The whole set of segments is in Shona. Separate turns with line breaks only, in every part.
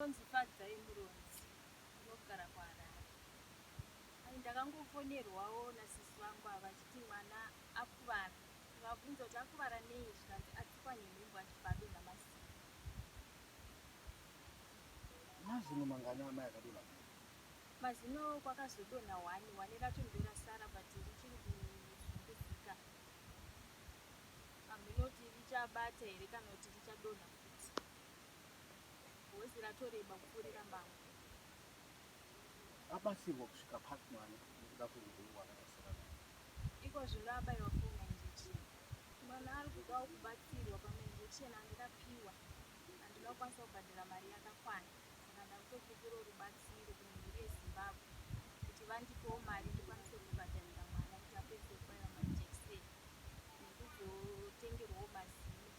Ndinonzi Fadzai Muronzi ndinogara kuHarare. Ai ndakangofonerwawo nasisi vangu ava vachiti mwana akuvara ndikavabvunza kuti akuvara nei zvikanzi atsikwa nenhumbu achibva adonha masimba.
Mazino mangani amai akadonha kudai? Mazino
kwakazodonha one, one racho ndorasara but richiri kuzunguzika hameno kuti richabata here kana kuti richadonha futi. Hozi ratoreba kupfuurira mbangu.
Abatsirwa kusvika papi mwana nekuda kwehupenyu hwaakatarisana naho? Iko zvino
abaiwa foni nainjecheni. Mwana ari kudawo kubatsirwa pamwe injection handikapiwa handina kukwanisa kubhadhara mari yakakwana saka ndakutopikirawo rubatsiro kune mhuri yeZimbabwe kuti vandipewo mari ndikwanise kubhadharira mwana kuti apedzise kubaiwa majekiseni nekuzotengerwawo mazino.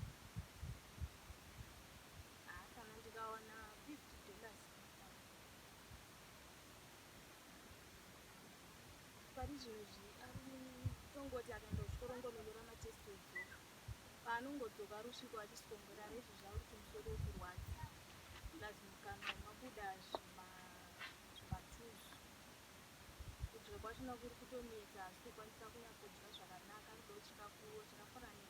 anongodzoka ari usviko achisongora rezvi zvauri kumusoro kurwadza lazimukana mabuda zvimatuzu kudya kwachona kuri kutonetsa asi kukwanisa kunyatsodya zvakanaka rudo chikafuwo chakafanana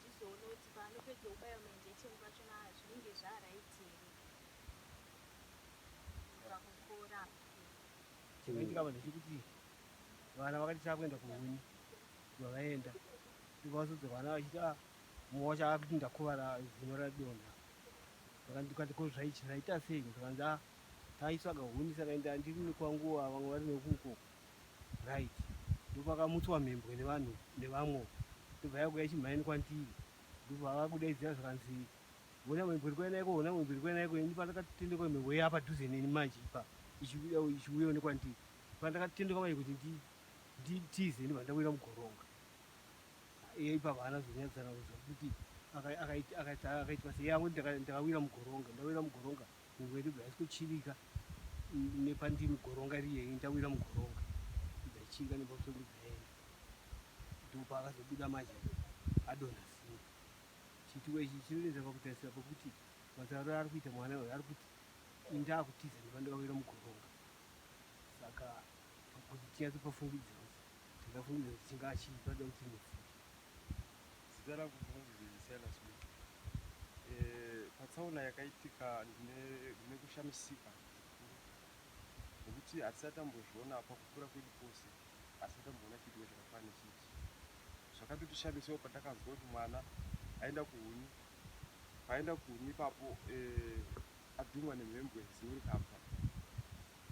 tizoona kuti paanopedza kubaiwa mainjection
pacho na zvinenge zvaaraiti here pakukora chinoitika vanhu chekuti vana vakati chakuenda kuhuni vavaenda ndikavazodzo vana vachiti a ah, mumwe wacho akuti ndakuvara zino radonha ndikati ko zvaichi zvaita sei ndikanzi a ah, taitsvaga huni saka enda ndiri nekwanguva vamwe vari nekuko right ndopakamutswa mhembwe nevanhu nevamwe ndobva yakuya chimhaini kwandiri ndobva vava kudaidzira zvakanzi vona mhembwe iri kuya naiko vona mhembwe iri kuya naiko ini pandakatendekwa mhembwe iya padhuze neni manje ipa ichiuyawo nekwandiri pandakatendekwa manje kuti nditize ndibva ndawira mugoronga iye ipapa haana zonyadzana kuti akaitwa seyamwe ndakawira mugoronga ndawira mugoronga Nguveni bva haisi kuchivika nepandimi goronga riye ndawira mugoronga ndaichivika nepamusoro ndibvaenda ndopa akazobuda manje adonha simba chituko ichi chinoenza pakutarisira pokuti matauriro ari kuita mwana uyo ari kuti indakutiza nepandawira mugoronga saka kuti tinyatsopafungidzira kuti ndakafungidzira kuti chingaa chii panoda kuti mufunge
Zita rangu ndinonzi Silas Muti. Eh, patsaona yakaitika ndine ndine kushamisika zvikuru nekuti hatisati tambozviona pakukura kwedu kwose, hatisati tamboona chiitiko chakafana nechichi. Zvakatotishamisawo pandakanzwa kuti mwana aenda kuhuni, paaenda kuhuni ipapo eh, adhumwa nemhembwe zino rikabva.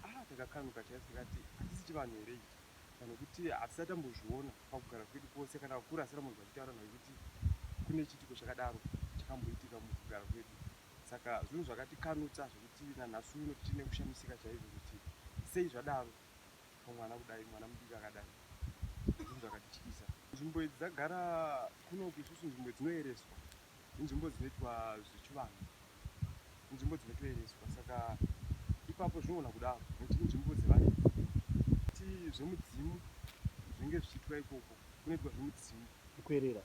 Ah, takakanuka chaizvo tikati hatisi chivanhu here ichi kana kuti hatisati tambozviona. pakugara kwedu kwose kana vakuru asi ramunzwa achitaura naye kuti kune chiitiko chakadaro chakamboitika mukugara kwedu saka zvinhu zvakatikanutsa zvekuti nanhasi uno tichiri nekushamisika chaizvo kuti sei zvadaro pamwana kudai mwana mudiki akadai zvinhu zvakatityisa nzvimbo idzi dzagara kunoku isusu nzvimbo dzinoereswa inzvimbo dzinoitwa zvechivanhu, inzvimbo dzinotoereswa saka ipapo zvinogona kudaro nekuti inzvimbo dzevaridzi kuti zvemudzimu zvinenge zvichiitwa ikoko kunoitwa zvemudzimu kuerera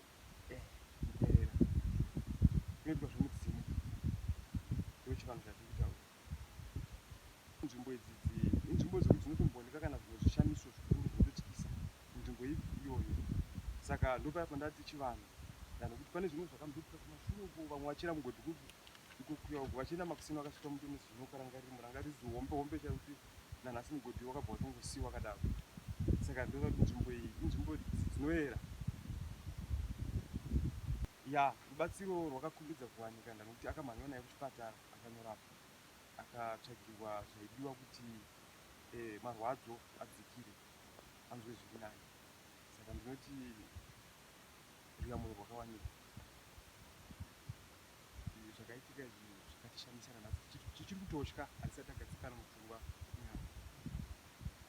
eh,
kuerera kunoitwa zvemudzimu ndochivanhu chatiri kutaura Nzvimbo idzi inzvimbo dzekuti dzinotombooneka kana zvimwe zvishamiso zvikuru zvinototyisa munzvimbo iyoyo. Saka ndopaya pandati chivanhu kana kuti pane zvimwe zvakamboitika kumashure uko vamwe vachira mugodhi kuku ikokuya uko vachienda makuseni vakasvika muto nezvinokarangarira murangaridzi hombe hombe chaiyo kuti nanhasi mugodhi wakabva watongosiiwa kadaro. Saka ndinoda kuti nzvimbo iyi inzvimbo dzinoera ya rubatsiro rwakakumbidza kuwanika nekuti akamhanywa naye kuchipatara. akanyorapa akatsvagirwa zvaidiwa kuti marwadzo adzikire anzwe zviri nani saka ndinoti ruyamuno rwakawanikwa zvakaitika izvi zvakatishamisa nanhasi tichiri kutotya hatisati tagadzikana mupfungwa nyama